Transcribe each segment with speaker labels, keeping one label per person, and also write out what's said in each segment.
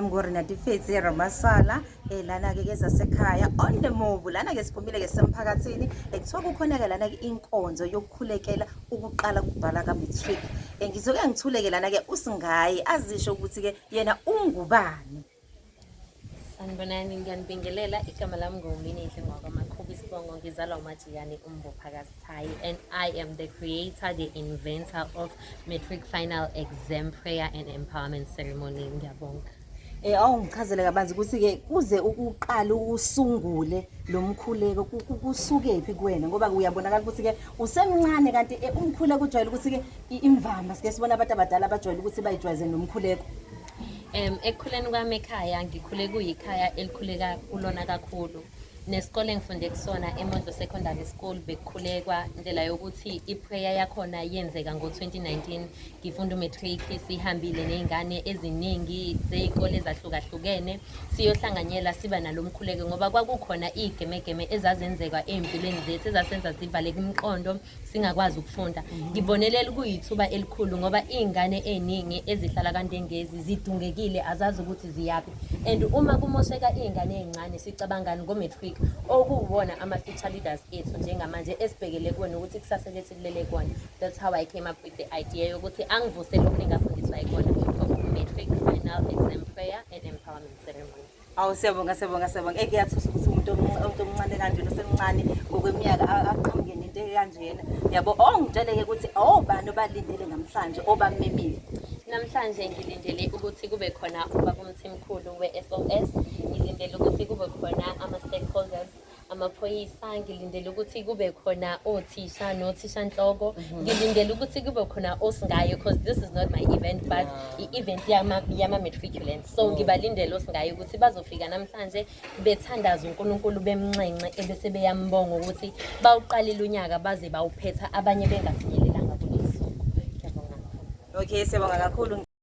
Speaker 1: mngori natifetsi ramasala eh lana ke kezasekhaya on the move lana ke siphumile ke semphakathini ekuthiwa kukhona ke lana ke inkonzo yokukhulekela ukuqala kubhala ka matric eh, ngizoke ngithuleke lana ke usingayi azisho ukuthi ke yena ungubani
Speaker 2: Sanibonani, ngiyanibingelela. Igama lami nguMininhle ngwakwaMakhuba isibongo. Ngizalwa uMajiyane uMbopha kaSithayi and I am the creator, the inventor of matric final exam prayer and empowerment ceremony. Ngiyabonga. Eh awungichazele
Speaker 1: kabanzi ukuthi ke kuze ukuqala usungule lo mkhuleko ku- ku- kusukephi kuwena ngoba uyabonakala ukuthi ke usemncane kanti eh, umkhuleko ujwayele ukuthi ke i- imvama sike sibona abantu abadala abajwayele ukuthi bayijwayeze nomkhuleko. Um,
Speaker 2: ekukhuleni kwami ekhaya ngikhule kuyikhaya elikhuleka kulona kakhulu nesikole engifunde kusona emondlo secondary school bekukhulekwa indlela yokuthi iprayer yakhona yenzeka ngo-2019 ngifunda umatric sihambile ney'ngane eziningi zey'kole ezahlukahlukene siyohlanganyela siba nalo mkhuleko ngoba kwakukhona iy'gemegeme ezazenzeka ey'mpilweni zethu ezasenza zivale kumqondo singakwazi ukufunda ngibonelele kuyithuba elikhulu ngoba iy'ngane ey'ningi ezihlala kanti engezi zidungekile azazi ukuthi ziyaphi and uma kumosheka iy'ngane ey'ncane sicabangani ngo-matric okuwona ama-future leaders ethu njengamanje esibhekele kuwona ukuthi kusasa lethu kulele kona that's how i came up with the idea yokuthi angivusele okuningi afundiswa ikona matric final exam prayer and empowerment ceremony Awu siyabonga siyabonga
Speaker 1: siyabonga. Eke yathusa ukuthi umuntu omnc- umuntu omncane kanjena osemncane ngokweminyaka a- aqhamuke nento ekanjena. Yabo oh ngitsheleke ukuthi obani obalindele namhlanje obamemile. Namhlanje
Speaker 2: ngilindele ukuthi kube khona ubabumthimkhulu we-SOS, ngilindele ukuthi kube khona ama-stakeholders amaphoyisa ngilindele ukuthi kube khona othisha nothisha nhloko mhm. ngilindele ukuthi kube khona osingayo because this is not my event but i-event yama-matriculants so mm. ngibalindele osingayo ukuthi bazofika namhlanje bethandaza unkulunkulu bemnxenxe ebese beyambonga ukuthi bawuqalile unyaka baze bawuphetha abanye bengafinyelelanga kulezi suku okay siyabonga
Speaker 1: kakhulu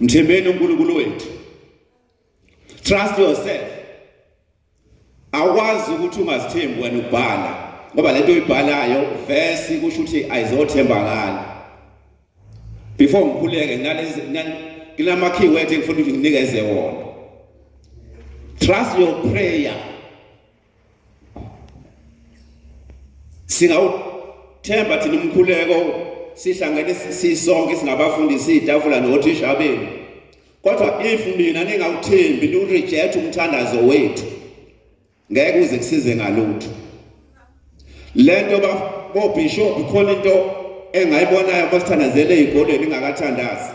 Speaker 3: Mthembeni uNkulunkulu wethu. Trust yourself. Awukwazi ukuthi ungazithembi wena ubhala ngoba lento oyibhalayo verse kusho ukuthi ayizothembakala. before ngikhuleke nginama key words engifuna ukuthi nginikeze wona trust your prayer singawuthemba thina umkhuleko sihlangene sisonke singabafundi sitafula nothisha benu kodwa if mina ningawuthembi niwureject umthandazo wethu ngeke uze kusize ngalutho lento ba bo bishop khona into engayibonayo basithandazele ezikolweni ingakathandazi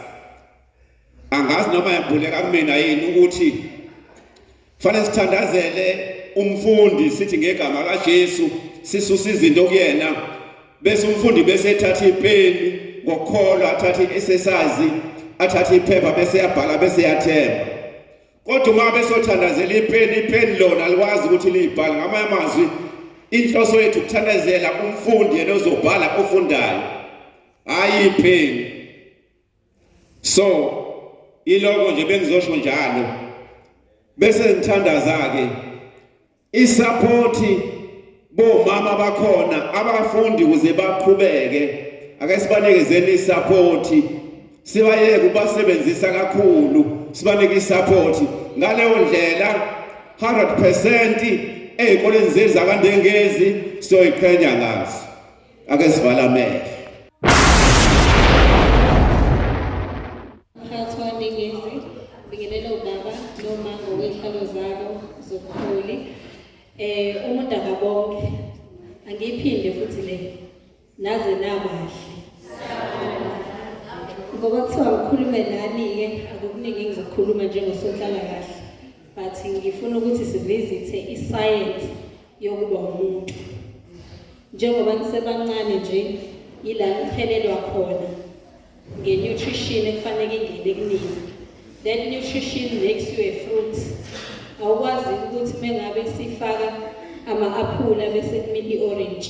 Speaker 3: angazi noma yambuleka kumina yini ukuthi fanele sithandazele umfundi sithi ngegama kaJesu sisusa izinto kuyena bese umfundi bese ethatha ipeni ngokukholwa athathe isesazi athathe iphepha bese yabhala bese yathemba kodwa uma besothandazela ipheni ipheni lona likwazi ukuthi liyibhale ngamanye amazwi inhloso yethu ukuthandazela umfundi yena ozobhala ofundayo hayi ipheni so iloko nje bengizosho njalo bese ngithandaza-ke isaphothi bomama bakhona abafundi kuze baqhubeke ake sibanikezeni isaphothi sibayeke ubasebenzisa kakhulu sibanike isaphothi ngaleyo ndlela 100% ezikoleni zethu zakandengezi siyoyiqhenya ngazo
Speaker 4: ake sivala amehlo eh umuntu akabonke angiphinde futhi le naze nabahle ngoba kuthiwa ngikhulume nani-ke akukuningi engizokhuluma njengosonhlalakahle but ngifuna ukuthi sivizithe isayensi yokuba umuntu njengoba nisebancane nje yila niphelelwa khona nge-nutrition ekufanele ingene kunini that nutrition makes you a fruit awukwazi ukuthi mengabe sifaka ama-aphula bese kumila i-orange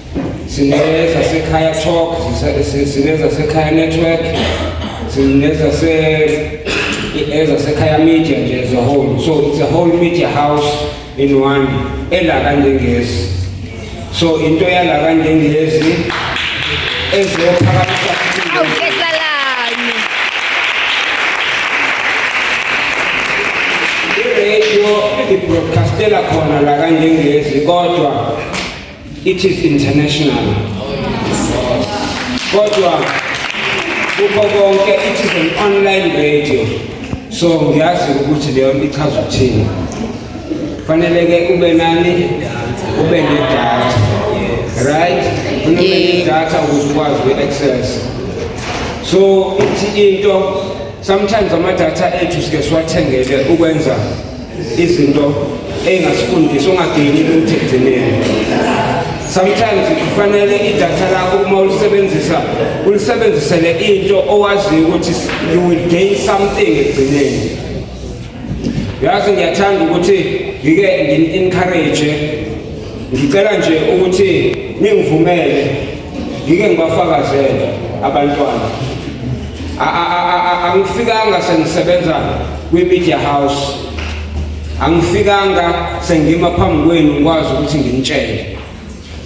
Speaker 5: sinezasekhaya talk sinezasekhaya network sinezasekhaya media nje as a whole so it's a whole media house in one ela kanjengezi so into yala kanjengezi ezophakamisa radio ibroadcastela khona la kanjengezi kodwa It is international. Kodwa kukho konke it is an online radio. So ngiyazi ukuthi leyo nto ichaza ukuthini. Fanele ke ube nani? Ube nedatha. Right? Ube nedatha ukuthi ukwazi uku-access. So ithi into sometimes amadata ethu sike siwathengele ukwenza izinto engazifundisa ungagcini ukuthi egcineni sometimes kufanele idatha lakho uma ulisebenzisa ulisebenzisele into owaziyo ukuthi you will gain something egcineni yazi ngiyathanda ukuthi ngike ngini-encourage ngicela nje ukuthi ningivumele ngike ngibafakazele abantwana angifikanga sengisebenza kwi-media house angifikanga sengima phambi kwenu ngikwazi ukuthi nginitshele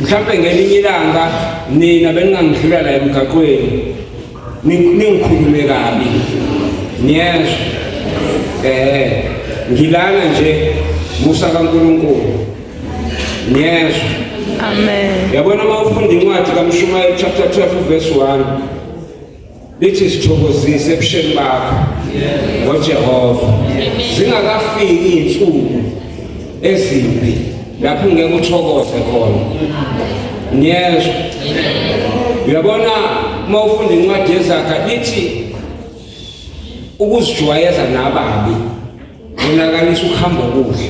Speaker 5: mhlawumbe ngelinye ilanga nina beningangidlula la emgaqweni ningikhulume kabi niyezwa eh ngilana nje musa kaNkuluNkulu niyezwa amen yabona uma ufunda incwadi kaMshumayeli chapter 12 verse 1 lithi sithokozise ebusheni bakho ngoJehova zingakafiki izinsuku ezimbi lapho ngeke uthokoze khona ngiyezwa uyabona uma ufunda incwadi yezakha ithi ukuzijwayeza nababi kunakalisa ukuhamba okuhle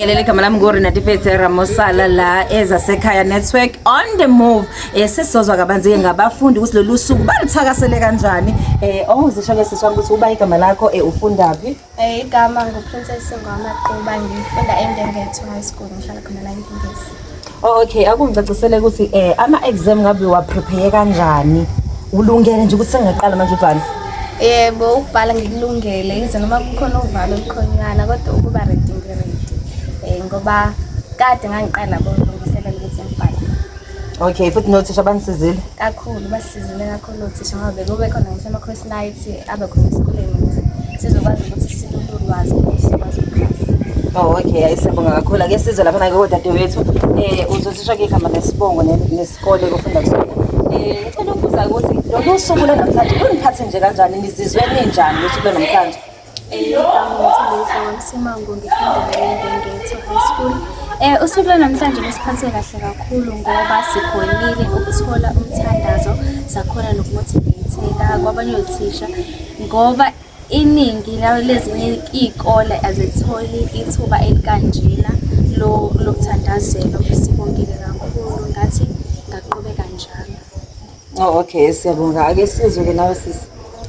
Speaker 1: Ngelele igama lami nguRenatifetse Ramosala la ezasekhaya network on the move eh sesizozwa kabanzi-ke ngabafundi ukuthi lolu suku baluthakasele kanjani eh ongizisho-ke sisi wami ukuthi uba igama lakho eh ufundaphi Eh, igama
Speaker 6: nguPrincess Ngwamaquba ngifunda eNdengetho High School ngihlala khona la eNkingisi. Oh, okay
Speaker 1: akungicacisele ukuthi eh ama exam ngabe wa prepare kanjani ulungele nje ukuthi sengaqala manje ubhala yebo
Speaker 6: ukubhala ngikulungele yize noma kukhona uvalo olukhonyana kodwa ukuba ready ngiready eh ngoba kade ngangiqala kulungiselela ukuthi ngibhale okay
Speaker 1: futhi nothisha banisizile kakhulu basizile
Speaker 6: kakhulu Unothisha ngabe kube khona ngisho ama-cross night abe khona esikoleni ukuze sizokwazi ukuthi silule ulwazi ukuthi sikwazi ukukhasa. Oh okay, hayi siyabonga
Speaker 1: kakhulu. Ake sizwe lapha nake kodadewethu. Eh uzosisho ke igama lesibongo ne- nesikole kufunda kusona. Eh ngicela ukubuza ukuthi lolu suku lwanamhlanje luniphathe nje kanjani? Nizizwe ninjani usuku lwanamhlanje?
Speaker 6: Simango ngifunda naye ngengetho high school. Eh usuku lwanamhlanje lusiphathe kahle kakhulu ngoba sigwemile ukuthola umthandazo sakhona nokumotivatheka kwabanye othisha ngoba iningi lezinye iy'kole azitholi ithuba elikanjena lokuthandazela. Sibongile kakhulu ngathi ngaqhubeka njalo. Oh okay siyabonga
Speaker 1: ake sizwe ke nawe sisi.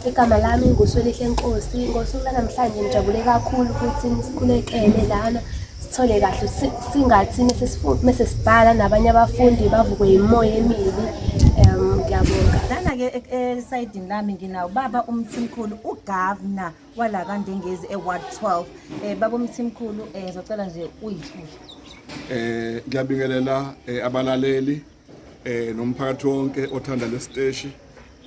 Speaker 1: Igama lami
Speaker 6: nguSwelihle Nkosi. Ngosuku lanamhlanje ngijabule kakhulu ukuthi nisikhulekele lana sithole kahle si- singathi mese sifu- mese sibhala nabanye abafundi bavukwe yimoya emibi. Um ngiyabonga. lana ke
Speaker 1: e- esayidini lami nginawo baba umthimkhulu ugavna wala kandengezi eward 12 um baba umthimkhulu um ngizocela nje uyithule Eh ngiyabingelela
Speaker 7: eh, abalaleli eh nomphakathi wonke othanda lesiteshi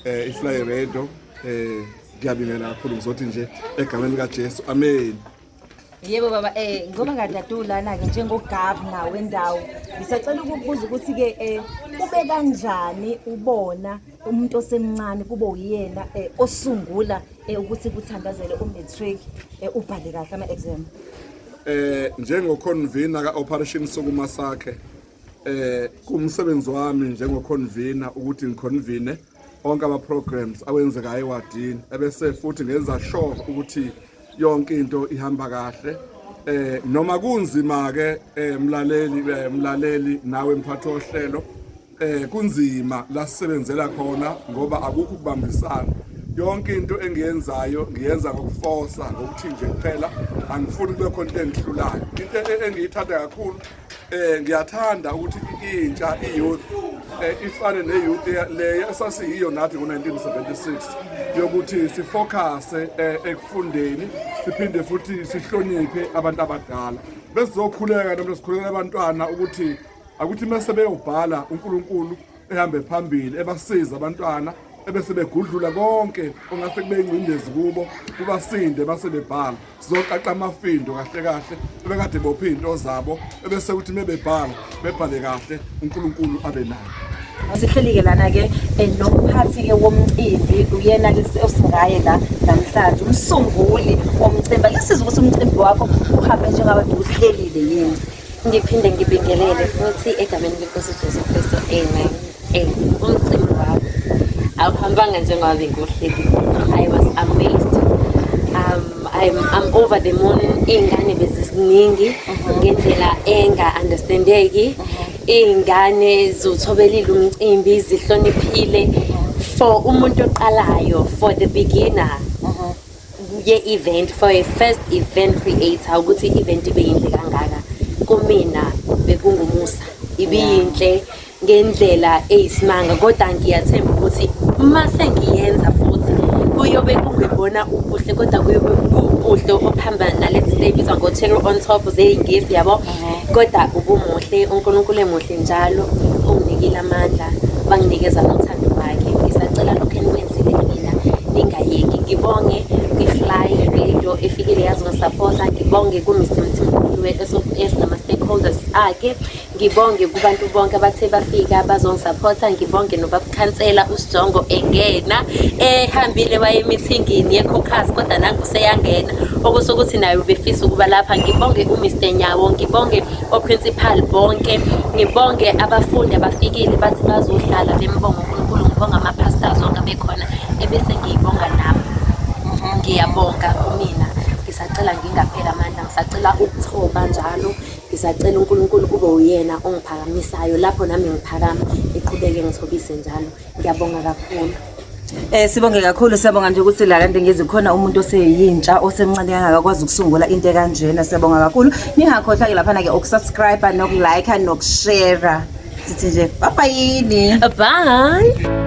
Speaker 7: eh iFly Radio eh ngiyabingelela kakhulu ngizothi nje egameni lika Jesu amen Yebo
Speaker 1: baba eh ngoba ngadadu lana ke njengogabna wendawo ngisacela ukubuza ukuthi ke eh kube kanjani ubona umuntu osemncane kube uyena eh, osungula eh, ukuthi kuthandazele umatric eh, ubhale kahle ama exam eh njengo
Speaker 7: convener ka operation sokuma sakhe eh kumsebenzi wami njengoconvener ukuthi ngiconvene onke ama programs awenzekayo ewadini ebese futhi ngenza sure ukuthi yonke into ihamba kahle eh noma kunzima ke eh, mlaleli eh, mlaleli nawe mphathi ohlelo eh kunzima la sisebenzela khona ngoba akukho ukubambisana yonke into engiyenzayo ngiyenza ngokufosa ngokuthi nje kuphela angifuni kube khona into engihlulayo into e-, engiyithatha kakhulu Eh ngiyathanda ukuthi intsha iyouth eh, ifane neyouth le esasiyiyo nathi ngo-1976 yokuthi sifocuse eh, ekufundeni siphinde futhi sihloniphe abantu abadala besizokhuleka noma sikhulekela abantwana ukuthi akuthi uma sebeyobhala uNkulunkulu ehambe phambili ebasiza abantwana ebese begudlula konke ongase kube ingcindezi kubo kubasinde base bebhala sizoqaqa amafindo kahle kahle ebekade bophe izinto zabo ebese ukuthi mebebhala bebhale kahle uNkulunkulu abe nayo sihlelike
Speaker 1: lana-ke um nomphathi-ke womcimbi uyena-ke osingaye la namhlanje umsunguli womcimbi alisiza ukuthi umcimbi wakho uhambe njengabantu uhlelile yini Ngiphinde
Speaker 2: ngibingelele futhi egameni lenkosi uJesu Kristu amen. Eh, umcimbi wami awuhambanga njengoba bengiwuhleli. I was amazed. Um, I'm, I'm over the moon iy'ngane beziziningi mhm. ngendlela enga-understandeki mhm. iy'ngane ziwuthobelile umcimbi zihloniphile mhm. for umuntu oqalayo for the beginner ye-event for a first event creator ukuthi i-event ibe yinhle kangaka kumina bekungumusa ibiyinhle ngendlela eyisimanga kodwa ngiyathemba ukuthi uma sengiyenza futhi kuyobe kungebona ubuhle kodwa kuyobe kuwubuhle obuhamba nalezi zinto ey'bizwa ngo-cherry on top zeyingisi yabo kodwa ubumuhle unkulunkulu emuhle njalo onginikile amandla banginikeza nothando lwakhe ngisacela lokhu enikwenzile mina ningayeki ngibonge kwi-fly radio efikile yazongisaphotha ngibonge ku-mr mthimkhulu esinama-stakeholders akhe ngibonge kubantu bonke abathe bafika bazongisaphotha ngibonge nobabukhansela usijongo engena ehambile waye emithingini ye-cocas kodwa nangu seyangena okusho ukuthi naye ubefisa ukuba lapha ngibonge umr nyawo ngibonge oprincipal bonke ngibonge abafundi abafikile bathi bazohlala bembonga unkulunkulu ngibonga ama-pastors onke abekhona ebese ngiyibonga nami ngiyabonga kumina ngisacela ngingapheli amandla ngisacela ukuthoba njalo ngisacela unkulunkulu kube uyena ongiphakamisayo lapho nami ngiphakama ngiqhubeke ngithobise njalo Ngiyabonga kakhulu. Eh sibonge
Speaker 1: kakhulu siyabonga nje ukuthi la kanti ngizi khona umuntu oseyintsha osemncane kangaka kwazi ukusungula into kanjena siyabonga kakhulu ningakhohlwa ke lapha na ke ukusubscribe nokulike nokushare sithi nje
Speaker 2: bye bye
Speaker 1: yini bye